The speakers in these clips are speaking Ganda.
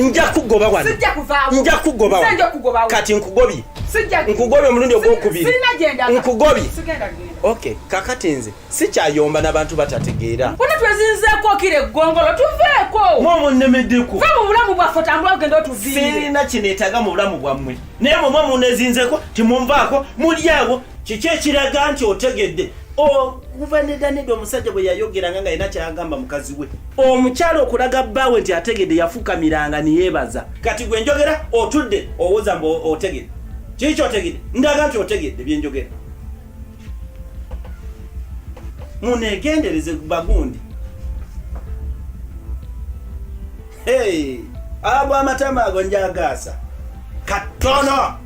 nja kugoba wano nja kugoba wano kati nkugobye nkugobye omulundi ogwokubiri nkugobye okay kakati nze sikyayomba nabantu batategeera bona twezinzeeko kira eggongolo tuveeko mwomo nnemeddeko va mu bulamu bwaffe otambula ogenda otuviire sirina kineetaga mu bulamu bwammwe naye mwemwe munezinzeeko timumvaako mulyawo kiki ekiraga nti otegedde okuva nedaneda omusajja bwe yayogeranga nga yina kyagamba mukazi we omukyala okulaga bbaawe nti ategedde yafukamiranga niyeebaza kati gwe njogera otudde owoza mbu otegedde kiki kyotegedde ndaga nti otegedde byenjogera munegendereze bagundi ago amatama ago njagaasa katono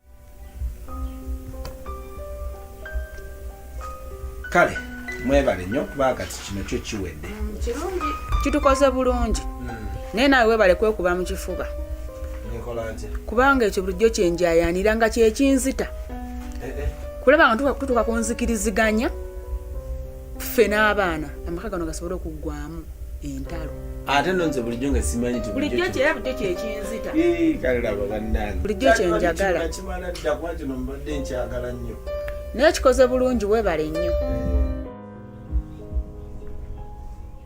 kale mwebale nnyo kuba kati kino kyo kiwedde kitukoze bulungi hmm. naye naawe webale kwekuba mu kifuba kubanga ekyo bulijjo kyenjayanira nga kyekinzita eh, eh. kulaba nga tutuka kunzikiriziganya ffe n'abaana amaka gano gasobole okuggwamu entalo ate no nze bulijjo nga simanyi nti bulijjo kyera bulijjo kyekinzita kalaba bannange bulijjo kyenjagala kimala dda kuba kino mbadde nkyagala nnyo naye kikoze bulungi webale nnyo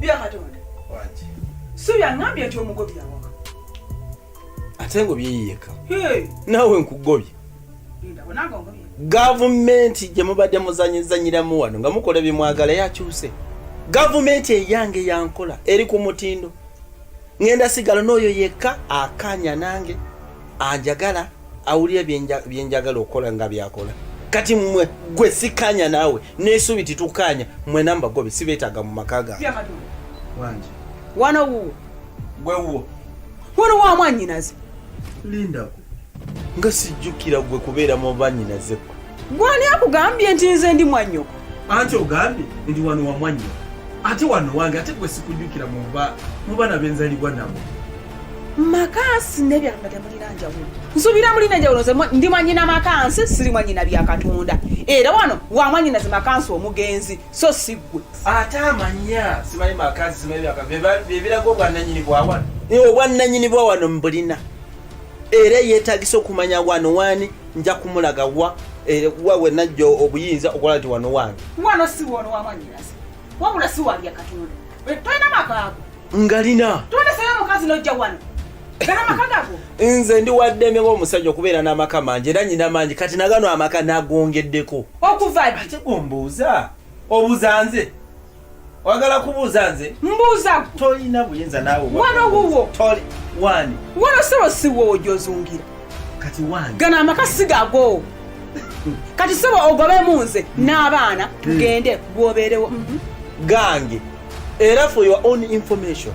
byakatonda subi aŋambye nti omugobye awaka ate ngobye yeyeka naawe nkugobye gavumenti gye mubadde muzanyizanyiramu wano nga mukola byemwagala yakyuse gavumenti eyange yankola eri ku mutindo ngenda sigala n'oyo yekka akanya nange anjagala awulira byenjagala okukola nga byakola kati mwe gwe sikanya naawe nesuubi titukanya mwena mbagobe sibeetaaga mu maka gange wano wuwo gwe wuwo wano wamwanyinaze lindako nga sijjukira gwe kubeera mu banyinaze gwe gwani akugambye nti nze ndi mwanyoko anti ogambye ndi wano wa mwanyoko ate wano wange ate gwe sikujjukira mu baana benzalibwa nabo makansi nebyamba temulina njawulo nsubira mulina njawulo nze ndi mwanyina makansi siri mwanyina bya katonda era wano wa mwanyinaze makansi omugenzi so si gwe ate amanya simanyi makazi simanyi byaka byebiraga obwannanyini bwawano obwannanyini bwawano mbulina era yetagisa okumanya wano wani nja kumulaga wa eh, wa wenajja obuyinza okulaba ti wano wange wano si wono wamanyirasi wabula si walya katonda eh, tolina makaago ngalina tolina sayo omukazi nojja wano nze ndi waddembe ng'omusajja okubeera n'amaka mangi era nyina mangi kati nagano amaka nagongeddeko okuva ate gombuuza obuza nze wagala kubuuza nze mbuuza tolina buyinza naawe wano wuwo wani wano sebo siwowo gyozungira kati wani gano amaka sigago kati sebo ogobemu nze n'abaana hmm. tugende gwobeerewo mhm. gange era for your own information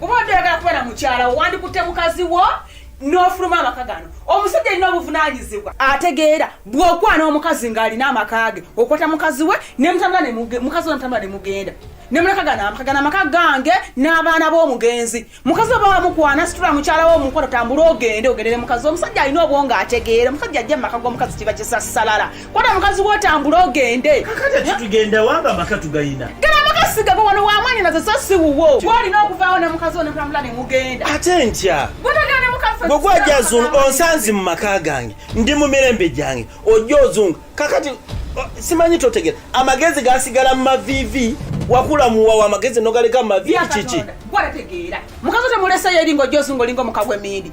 kuba odde oyagala kuba na mukyala wandikutte mukazi wo n'ofuluma amaka gano omusajja alina obuvunanyizibwa ategeera bw'okwana omukazi ng'alina amaka ge okwata mukazi we mukazi we mutambula ne mugenda nemulaka gano amaka gano amaka gange n'abaana b'omugenzi mukazi oba wamukwana situla mukyala wo omukono tambula ogende ogendere mukazi omusajja alina obwongo ategeera omusajja ajja mu maka g'omukazi kiba kisassalala Kona mukazi wotambula ogende. Kakati kitugenda wanga amaka tugayina. Gana amaka sigaba wano wamanya nazo so si wuwo. Twalina okuvaawo ne mukazi ono kulambula ne mugenda. Ate ntya. Bwotagenda ne mukazi ono. Bwogwa ajja azunga onsanzi mu maka gange. Ndi mu mirembe gyange. Ojja ozunga. Kakati simanyi totegera. Amagezi gasigala mu mavivi. wakula muwawa amagezi nogaleka mu mavivi kiki. Gwa tegeera. Mukazi otemuleseyo eringa ojja ozunga olinga omuka gw'emindi.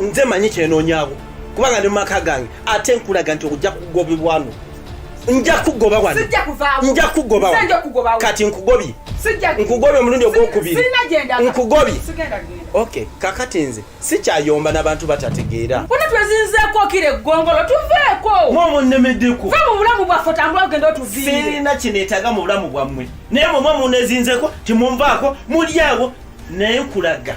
nze manyi kyenoonyawo kubanga ne mu maka gange ate nkulaga nti okujja kugobebwano nja kugoba wano nja kugoba kati nkugobye nkugobye omulundi ogwokubiri nkugobye ok kakati nze sikyayomba nabantu batategeera bona twezinzeeko kira eggongolo tuveeko mwe omunnemeddeko ve mu bulamu bwaffe otambula ogenda otuviire sirina kineetaaga mu bulamu bwammwe naye mwe mwe munezinzeeko timunvaako mulyawo naye nkulaga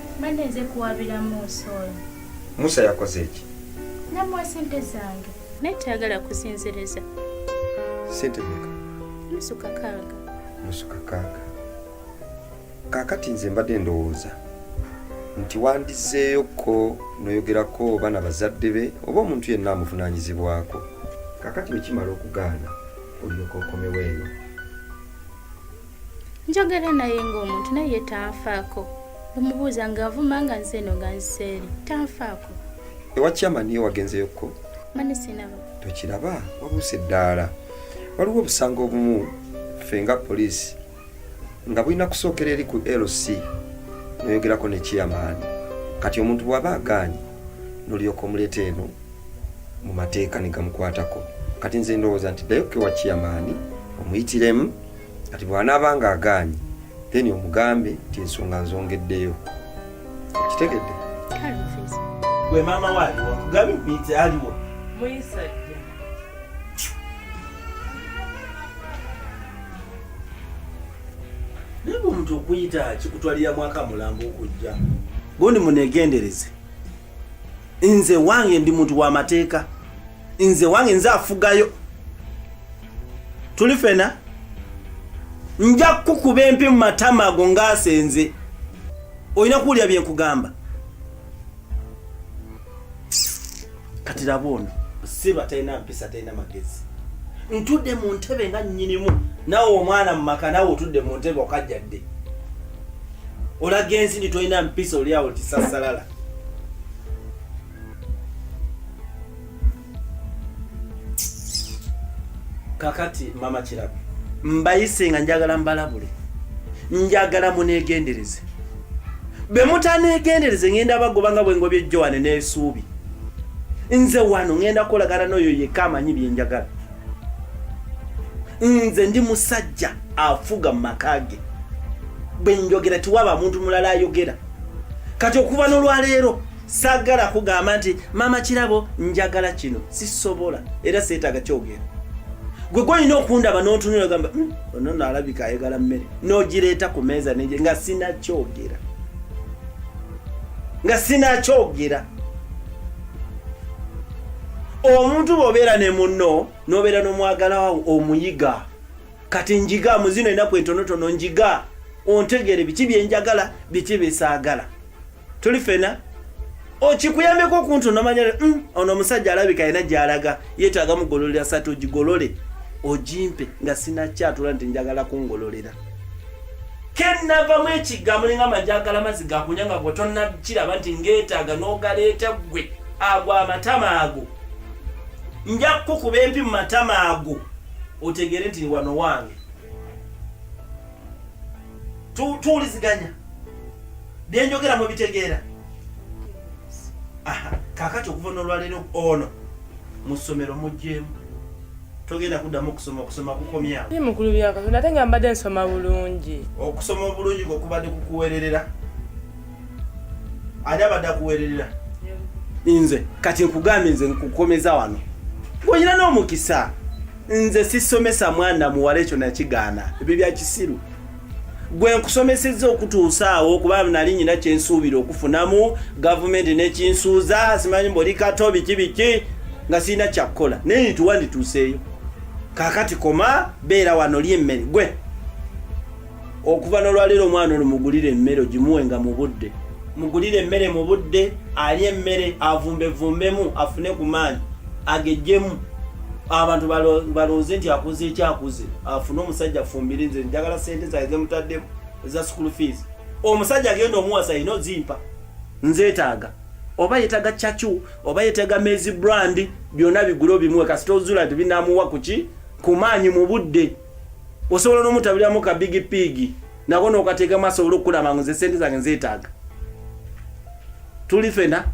Mbadde nze kuwabira Musa oyo. Musa yakoze ki? Namuwa sente zange. Naye tayagala kusinziriza. Sente meka? Nusu kakaaga. Nusu kakaaga. Kaakati nze mbadde ndowooza nti wandizzeeyoko noyogerako oba na bazadde be oba omuntu yenna amuvunaanyizibwako kakati wekimala okugaana olyoka okomewo eno njogera naye ng'omuntu naye tanfaako omubuuza nga avuma nga nze eno nga nziseeri tanfaako ewa kyamani yo wagenzeyokko mani sinaba tokiraba wabuuse eddaala waliwo obusango obumu ffe nga poliisi nga bulina kusookera eri ku lc noyogerako ne chairman kati omuntu bwaba agaanyi nolyoka omuleeta eno mu mateeka ne gamukwatako kati nze ndowooza nti ddayo kewa kiyamaani omuyitiremu kati bw'anaaba nga agaanyi then omugambe nti ensonga nzongeddeyo kitegedde gwe maama waaliwo nkugambe muyite aliwo muyisajja naye omuntu okuyita kikutwalira mwaka mulambo okujja gundi munegendereze nze wange ndi muntu wa mateeka nze wange nze afugayo tuli fena nja kukuba empi mu matama ago ngaasenze olina kuwulira bye nkugamba kati laba ono siba talina mpisa talina magezi ntudde mu ntebe nga nnyinimu nawe omwana mu maka nawe otudde mu ntebe okajjadde olaga ensi ndi tolina mpisa olyawo tisasalala kakati mama kirabe mbayise nga njagala mbalabule njagala munegendereze bwe mutanegendereze ngenda bagoba nga bwengobye joane n'esuubi nze wano ngenda kolagana n'oyo yekka amanyi byenjagala nze ndi musajja afuga mu maka ge bwe njogera tiwaba muntu mulala ayogera kati okuva nolwaleero sagala kugamba nti maama kirabo njagala kino sisobola era seetaaga kyogera gwe gwolina okundaba notunula gamba hmm, ono nalabika ayagala mmere nogireeta ku meeza neye nga sinakyogera nga sinakyogera omuntu bwobeera ne munno nobeera nomwagalawo omuyiga kati njiga mu zino enaku entonotono njiga ontegere biki byenjagala biki byesaagala tuli fena okikuyambeko okuntu nomanya mm, ono omusajja alabika yena gyalaga yetaaga mugololera sati ogigolole ogimpe nga sinakyatula nti njagala kungololera kenavamu ekigambo ninga majagala mazi gakunya nga gwetonakiraba nti ngetaaga nogaleeta gwe ago amatama ago nja kukukuba empi mu matama ago otegeere nti wano wange tuwuliziganya byenjogera mu bitegeera kakati okuva nolwaleero ono mu ssomero muggyemu togenda kuddamu okusoma okusoma kukomyawo i mukulu byakatonda ate nga mbadde nsoma bulungi okusoma obulungi kwekubadde kukuwererera ani abadde akuweererera nze kati nkugambye nze nkukomeza wano ng'olina n'omukisa nze sisomesa mwana muwala ekyo nakigaana ebyo bya kisiru gwe nkusomesezza okutuusaawo kuba nali nyina kyensuubira okufunamu gavumenti nekinsuuza simanyi mboli kato biki biki nga sirina kyakukola naye nituwa ndituuseeyo kakati koma beera wano lyemmere gwe okuva nolwaleero omwana ono mugulire emmere ogimuwenga mu budde mugulire emmere mu budde alye emmere avumbevumbemu afune ku maanyi agejjemu abantu balonze nti akuze ekyakuze afune omusajja afumbire nze njagala sente zae zemutaddemu eza school fees omusajja agenda omuwasa yina ozimpa nzetaaga oba yetaga chachu oba yetaga mezi brand byona bigula obimuwe kasita ozula nti binamuwa kuki kumaanyi mu budde osobola n'omutabiramu ka bigi piigi nako nokateeka maaso ola okukulaba ngu nze sente zange nzeetaaga tuli fena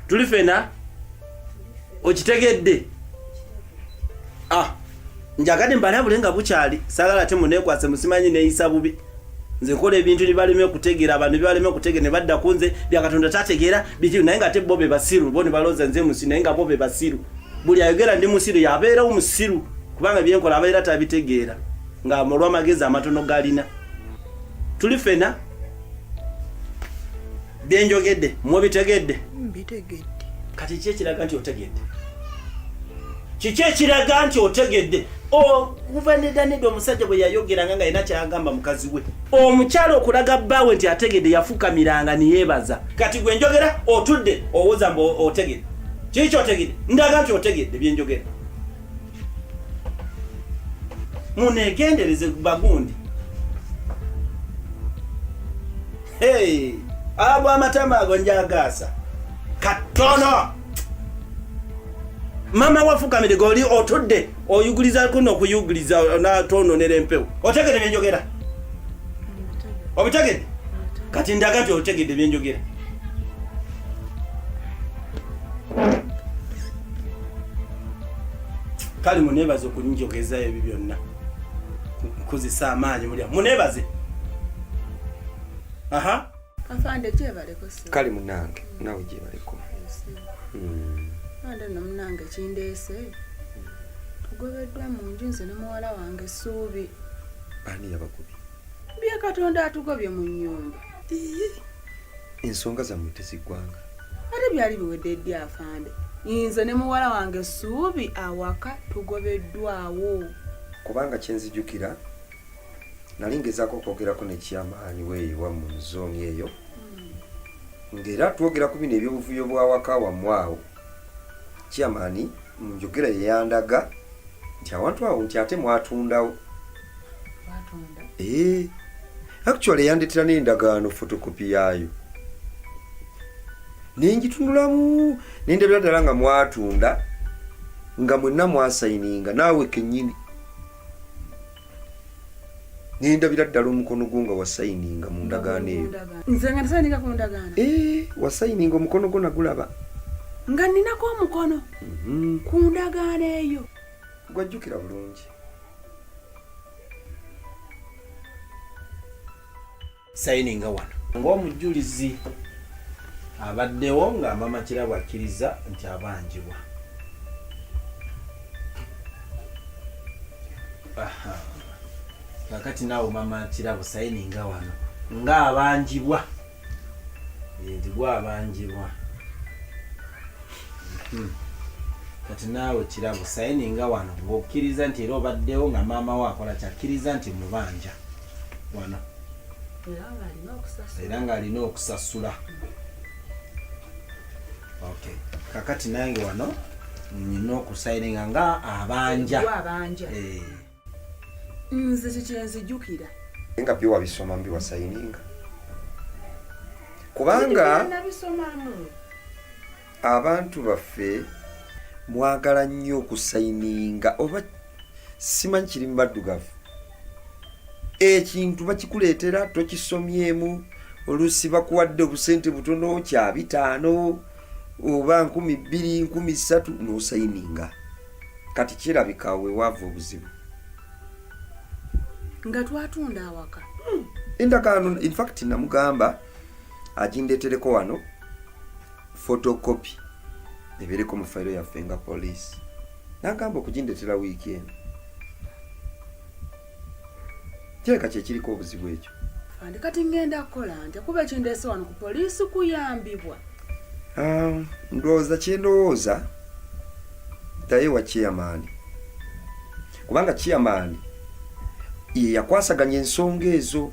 tuli fena okitegedde ah njagadde mbalabule nga bukyali sagala ate muneekwase musimanyi neeyisa bubi nze kola ebintu nibaleme okutegera abantu nibaleme okutegera nebadda ku nze byakatonda tategera bitiru naye nga te bo bebasiru bo nebaloza nze musiru naye nga bo bebasiru buli ayogera ndi musiru yabeerawo musiru kubanga byenkola abeera tabitegeera nga olwamagezi amatono galina tuli fena byenjogedde mubitegedde mbitegedde kati ki ekiraga nti otegedde kiki ekiraga nti otegedde okuva nedaneda omusajja bwe yayogeranga nga yina kyagamba mukazi we omukyalo okulaga bbaawe nti ategedde yafukamiranga neyeebaza kati gwe njogera otudde owoza mbu otegedde kiki kyotegedde ndaga nti otegedde byenjogera munegendereze bagundi Hey, ago amatama ago njagaasa katono mama wafukamire goli otudde oyuguliza kuno okuyuguliza natononera empewo otegede byenjogera obitegede kati ndaga nti otegede byenjogera kale munebaze okunjogezayo ebyo byonna nkozesa amaanyi mulya munebaze aha afande gyebaleko kale munange nawe gyebaleko hmm. ande no munange kindeese tugobeddwa mu nju nze ne muwala wange essuubi ani yabakubi bya katonda atugobye mu nyumba ensonga zammwe teziggwanga ate byali biwedde eddi afande nze ne muwala wange essuubi awaka tugobeddwawo kubanga kyenzijukira nali ngezaako okwogerako nekyamaanyi weeyiwa mu zooni eyo hmm. ngaera twogera ku bino ebyobuvuyo bwawaka wamu awo kyamaani mu njogera yeyandaga nti awantu awo nti ate mwatundawo ee eh, actually yandetera n'endagaano fotokopi yaayo nenjitunulamu nendabira ddala nga mwatunda nga mwenna mwasayininga naawe kenyini nendabira ddala omukono gwo nga wasayininga mu ndagaano eyo nze nga nasayininga ku ndagaano eh, wasayininga omukono gwo nagulaba nga ninako omukono mhm. ku ndagaano eyo gwajjukira bulungi sayininga wano ng'omujulizi abaddewo nga mama kirabo akkiriza nti abanjibwa kakati naawe mama kirabo sayininga wano nga abanjibwa nti gwabanjibwa hmm. kati naawe kirabo sayininga wano ng'okkiriza nti era obaddewo nga maama wo akola kyakkiriza nti mubanja wana era ng'alina okusasula okay kakati nange wano nina okusayininga nga abanja eh. nze kyekyenzijukira nga byo wabisoma mbi wasayininga kubanga abantu baffe mwagala nnyo okusayininga oba simanyi kiri mu baddugavu ekintu bakikuleetera tokisomyemu oluusi bakuwadde obusente butono kya bitaano oba nkumi bbiri nkumi ssatu n'osayininga kati kirabika wewaava obuzibu nga twatunda awaka hmm. endagaano infact namugamba agindetereko wano photocopy ebeereko mu fayiro yaffe nga poliisi nagamba okugindeetera wiiki eno kireka kyekiriko obuzibu ekyo andi kati ngenda kukola nti kuba ekindeese wano ku poliisi kuyambibwa ah, ndowooza kyendowooza ddayo wa chairmani kubanga chairmani yeyakwasaganya ensonga ezo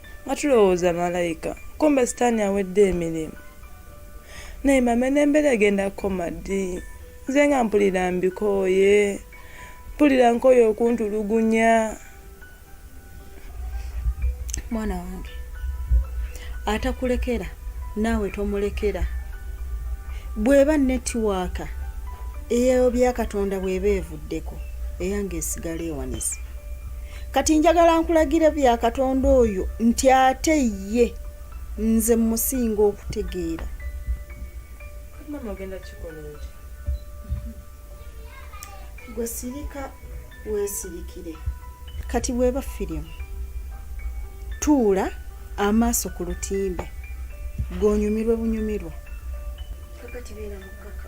nga tulowooza malayika kumbe sitaani awedde emirimu naye mama n'embeera egenda kukoma ddi nze nga mpulira mbikooye mpulira nkooye okuntulugunya mwana wange atakulekera naawe tomulekera bw'eba netiwaaka eyeyo byakatonda bw'eba evu nkuwuddeko eyange esigala ewanise kati njagala nkulagira bya katonda oyo nti ate ye nze musinga okutegeera gwe sirika wesirikire kati bweba firimu tuula amaaso ku lutimbe gonyumirwe bunyumirwa kakati beera mukaka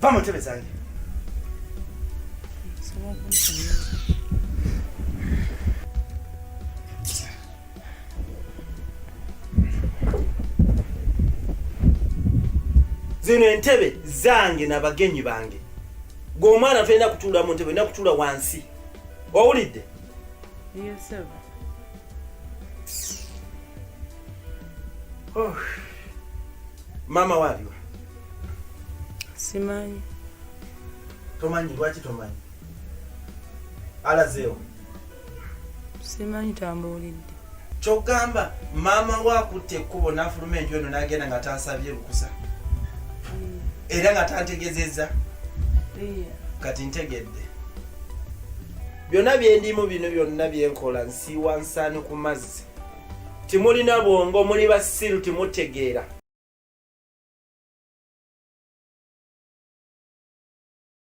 Va mu ntebe zange. zino entebe zange na bagenyi bange gwe omwana tolina kutuula mu ntebe olina kutuula wansi owulidde Yes, sir. Oh. Mama waliwa? Simanyi. Tomanyi lwaki tomanyi? Alazeewo. Simanyi tambuulidde. kyogamba maama we akutte ekkubo nafuluma enju eno nagenda nga tansabye lukusa era nga tantegezeza kati ntegedde byonna byendimu bino byonna byenkola nsiiwa nsaani ku mazzi timulina bwongo muli basiru timutegeera